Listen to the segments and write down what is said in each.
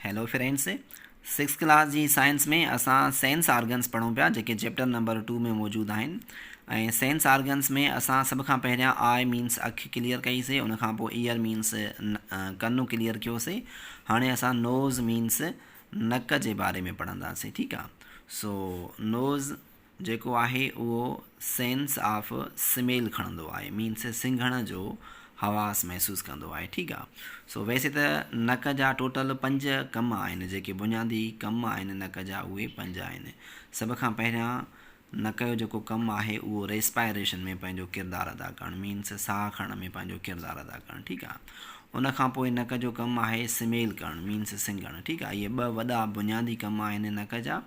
Hello friends six class جي science ۾ اسان sense organs پڙهون پيا جيڪي چيپٽر نمبر ٽو ۾ موجود آهن ۽ سينس آرگنس ۾ اسان سڀ کان پهريان آء مينس اک ڪليئر ڪئي سي ان کان پوء ايئر مينس ڪن ڪليئر ڪيو سي هاڻي اسان نوز مينس نڪ جي باري ۾ پڙهنداسي ٺيڪ آ سو نوز جيڪو آهي اهو سينس آف سميل کڻندو آهي مينس سنگهڻ جو حواس محسوس ڪندو آهي ٺيڪ آ سو ويسي ته نڪ جا ٽوٽل پنج ڪم آهن جيڪي بنيادي ڪم آهن نڪ جا اهي پنج آهن سڀ کان پهريان نڪ جو جيڪو ڪم آهي اهو ريسپائريشن ۾ پنهنجو ڪردار ادا ڪرڻ مينس ساهه کڻڻ ۾ پنهنجو ڪردار ادا ڪرڻ ٺيڪ آ ان کان پوء نڪ جو ڪم آهي سميل ڪرڻ مينس سنگهڻ ٺيڪ آهي اهي ٻه وڏا بنيادي ڪم آهن نڪ جا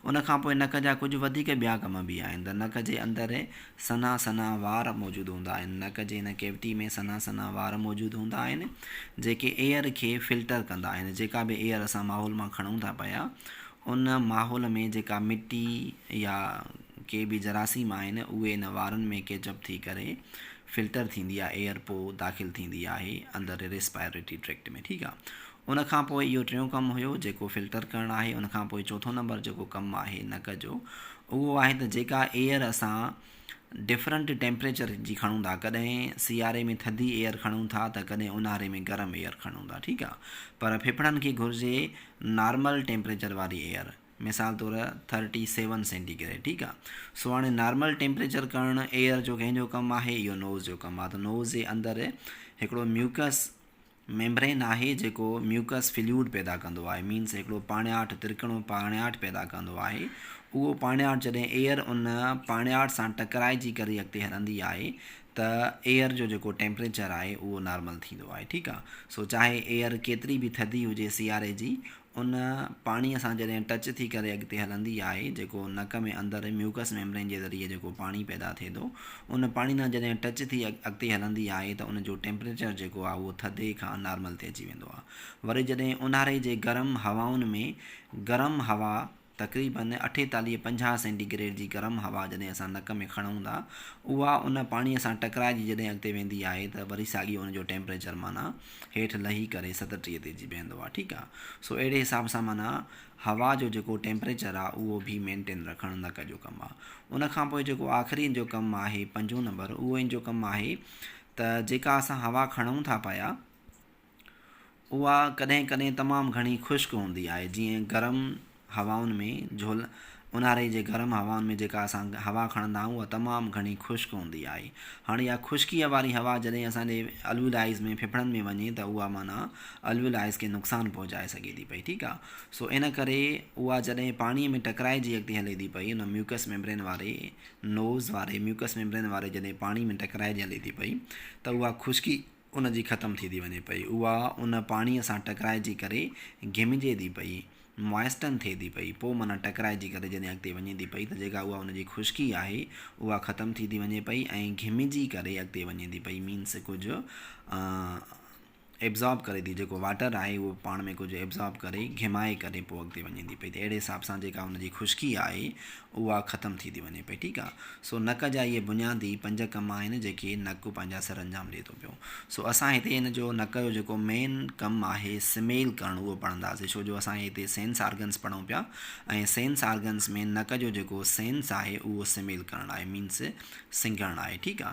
ان کان پوء نڪ جا ڪجهه وڌيڪ ٻيا ڪم به آهن ته نڪ جي اندر سنها سنها وار موجود هوندا آهن نڪ جي ان ڪيوٽي ۾ سنها سنها وار موجود هوندا آهن جيڪي ايئر کي فلٽر ڪندا آهن جيڪا به ايئر اسان ماحول مان کڻون ٿا پيا ان ماحول ۾ جيڪا مٽي يا ڪي به جراثيم آهن اهي ان وارن ۾ ڪيچ اپ ٿي ڪري فلٽر ٿيندي آ ايئر پو داخل ٿيندي آهي اندر ريسپائريٽري ٽريڪٽ ۾ ٺيڪ آ ان کان پوء اهو ٽيون ڪم هيو جيڪو فلٽر ڪرڻ آهي ان کان پوء چوٿون نمبر جيڪو ڪم آهي نڪ جو اهو آهي ته جيڪا ايئر اسان ڊفرنٽ ٽيمپريچر جي کڻون ٿا ڪڏهن سياري ۾ ٿڌي ايئر کڻون ٿا ته ڪڏهن اونهاري ۾ گرم ايئر کڻون ٿا ٺيڪ آ پر ڦڦڙن کي گهرجي نارمل ٽيمپريچر واري ايئر مثال طور ٿرٽي سيون سينٽي گريڊ ٺيڪ آ سو هاڻي نارمل ٽيمپريچر ڪرڻ ايئر جو ڪنهن جو ڪم آهي اهو نوز جو ڪم آ ته نوز جي اندر هڪڙو ميوڪس ميمبرين آهي جيڪو ميوڪس فليوڊ پيدا ڪندو آهي مينس هڪڙو پاڻياٺ ترڪڻو پاڻياٺ پيدا ڪندو آهي اهو پاڻياٺ جڏهن ايئر ان پاڻياٺ سان ٽڪرائجي ڪري اڳتي هلندي آهي ته ايئر جو جيڪو ٽيمپريچر آهي اهو نارمل ٿيندو آهي ٺيڪ آ سو چاهي ايئر ڪيتري به ٿڌي هجي سياري جي ان پاڻيء سان جڏهن ٽچ ٿي ڪري اڳتي هلندي آهي جيڪو نڪ ۾ اندر ميوڪس ميمبرين جي ذريعي جيڪو پاڻي پيدا ٿئي ٿو ان پاڻي سان جڏهن ٽچ ٿي اڳتي هلندي آهي ته ان جو ٽيمپريچر جيڪو آهي اهو ٿڌي کان نارمل تي اچي ويندو آهي وري جڏهن اونهاري جي گرم هوائن ۾ گرم هوا تقريباً اٺيتاليهه پنجاهه سينٽي گريڊ جي گرم هوا جڏهن اسان نڪ ۾ کڻون ٿا، اها ان پاڻيء سان ٽڪرائجي جڏهن اڳتي ويندي آهي ته وري ساڳيو ان جو ٽيمپريچر معنيٰ هيٺ لهي ڪري ستٽيهه تي اچي بيهندو آهي. ٺيڪ آهي. سو اهڙي حساب سان معنيٰ هوا جو جيڪو ٽيمپريچر آهي اهو به مينٽين رکڻ نڪ جو ڪم آهي. ان کان پوء جيڪو آخري ان جو ڪم آهي پنجون نمبر اهو ان جو ڪم آهي ته جيڪا اسان هوا کڻون ٿا پيا، اها ڪڏهن ڪڏهن تمام گهڻي خشڪ هوندي آهي جيئن گرم هوائن ۾ جهل اونهاري جي گرم هوائن ۾ جيڪا اسان هوا کڻندا آهيون اها تمام گهڻي خشڪ هوندي آهي هاڻي اها خشڪيء واري هوا جڏهن اسانجي الولايز ۾ ڦڦڙن ۾ وڃي ته اها معنيٰ الولايز کي نقصان پهچائي سگهي ٿي پئي ٺيڪ آهي سو ان ڪري اها جڏهن پاڻي ۾ ٽڪرائجي اڳتي هلي ٿي پئي ان ميوڪس ميمبرين واري نوز واري ميوڪس ميمبرين واري جڏهن پاڻي ۾ ٽڪرائجي هلي ٿي پئي ته اها خشڪي ان جي ختم ٿي ٿي وڃي پئي. اها ان پاڻيء سان ٽڪرائجي ڪري گهمجي ٿي پئي، Moisten ٿئي ٿي پئي، پوء معنيٰ ٽڪرائجي ڪري جڏهن اڳتي وڃي ٿي پئي ته جيڪا اها ان جي خشڪي آهي اها ختم ٿي ٿي وڃي پئي ۽ گهمجي ڪري اڳتي وڃي ٿي پئي Means ڪجهه Absorb ڪري ٿي جيڪو واٽر آهي اهو پاڻ ۾ ڪجهه Absorb ڪري گهمائي ڪري پوء اڳتي وڃي ٿي پئي ته اهڙي حساب سان جيڪا ان جي خشڪي آهي اها ختم ٿي ٿي وڃي پئي ٺيڪ آ سو نڪ جا اهي بنيادي پنج ڪم آهن جيڪي نڪ پنهنجا سر انجام ڏئي ٿو پيو سو اسان هتي ان جو نڪ جو جيڪو مين ڪم آهي سميل ڪرڻ اهو پڙهنداسي ڇو جو اسان هتي سينس آرگنس پڙهون پيا ۽ سينس آرگنس ۾ نڪ جو جيڪو سينس آهي اهو سميل ڪرڻ آهي مينس سنگهڻ آهي ٺيڪ آ.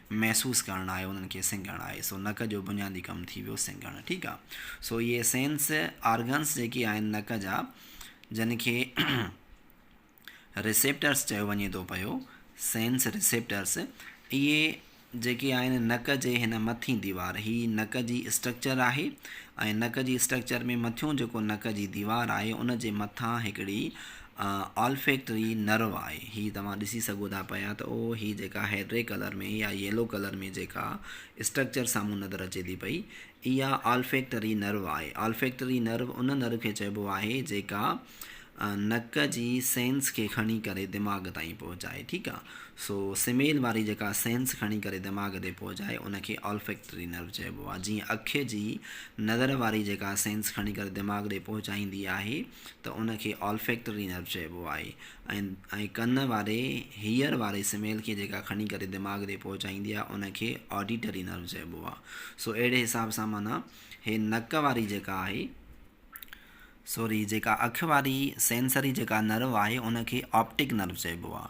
محسوس ڪرڻ آهي انهن کي سنگهڻ آهي سو نڪ جو بنيادي ڪم ٿي ويو سنگهڻ ٺيڪ آ سو اهي سينس آرگنس جيڪي آهن نڪ جا جن کي ريسيپٽرس چيو وڃي ٿو پيو سينس ريسيپٽرس اهي جيڪي آهن نڪ جي هن مٿين ديوار هي نڪ جي اسٽرڪچر آهي ۽ نڪ جي اسٽرڪچر ۾ مٿيون جيڪو نڪ جي ديوار آهي ان جي مٿان هڪڙي آلفيڪٽري نرو آهي هي توهان ڏسي سگهو ٿا پيا ته او هي جيڪا هيڊري ڪلر ۾ يا ييلو ڪلر ۾ جيڪا اسٽرڪچر سامهون نظر اچي ٿي پئي اها آلفيڪٽري نرو آهي آلفيڪٽري نرو ان نرو کي چئبو آهي جيڪا نڪ جي سينس کي کڻي ڪري دماغ تائين پهچائي ٺيڪ آهي سو سميل واري جيڪا سينس کڻي ڪري دماغ تي پهچائي ان کي آلفيڪٽري نرو چئبو آهي جيئن اک جي نظر واري جيڪا سينس کڻي ڪري دماغ ڏي پهچائيندي آهي ته ان کي Olfactory Nerve چئبو آهي ۽ ۽ ڪن واري Hear واري سميل کي جيڪا کڻي ڪري دماغ تي پهچائيندي آهي ان کي Auditory Nerve چئبو آهي سو اهڙي حساب سان معنيٰ هي نڪ واري جيڪا آهي سوري جيڪا اک واري Sensory جيڪا Nerve آهي ان کي Optic Nerve چئبو آهي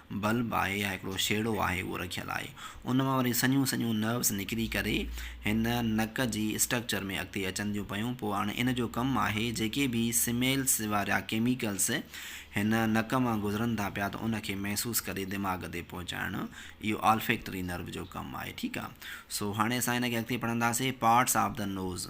بلب آهي يا هڪڙو شيڙو آهي اهو رکيل آهي ان مان وري سنهيون سنهيون نروس نڪري ڪري هن نڪ جي اسٽرڪچر ۾ اڳتي اچن ٿيون پيون پوء هاڻي ان جو ڪم آهي جيڪي به سميلس وارا ڪيميڪلس هن نڪ مان گذرن ٿا پيا ته ان کي محسوس ڪري دماغ تي پهچائڻ اهو آلفيڪٽري نرو جو ڪم آهي ٺيڪ آهي سو هاڻي اسان هن کي اڳتي پڙهنداسين parts of the nose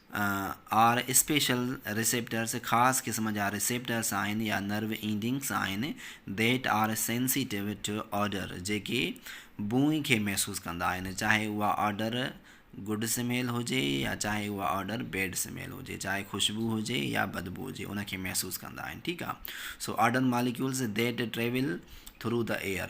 are special receptors خاص قسم جا ريسيپٽرس آهن يا نرو اينڊنگس آهن That are sensitive to odour جيڪي بوئي کي محسوس ڪندا آهن چاهي اها آڊر گڊ سميل هجي يا چاهي اها آڊر بيڊ سميل هجي چاهي خوشبو هجي يا بدبو هجي ان کي محسوس ڪندا آهن ٺيڪ آهي سو odour molecules That travel through the air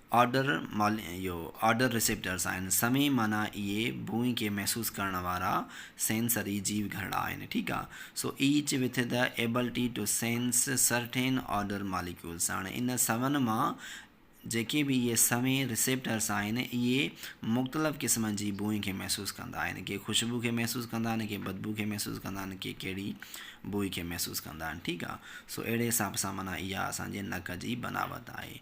odour mole اهو آرڊر ريسيپٽرس آهن سوين معنيٰ اهي بوئي کي محسوس ڪرڻ وارا سينسري جيو گهرڙا آهن ٺيڪ آ سو each with the ability to sense certain odour molecules هاڻي ان سون مان جيڪي به اهي سوين ريسيپٽرس آهن اهي مختلف قسمن جي بوئي کي محسوس ڪندا آهن ڪي خوشبو کي محسوس ڪندا آهن ڪي بدبو کي محسوس ڪندا آهن ڪي ڪهڙي بوئي کي محسوس ڪندا آهن ٺيڪ آ سو اهڙي حساب سان معنيٰ اها اسان جي نڪ جي بناوت آهي.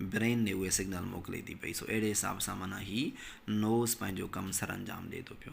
برين ني اهي سگنل موڪلي ٿي پئي سو اهڙي حساب سان معنيٰ هي نوز پنهنجو ڪم سرانجام ڏي ٿو پيو.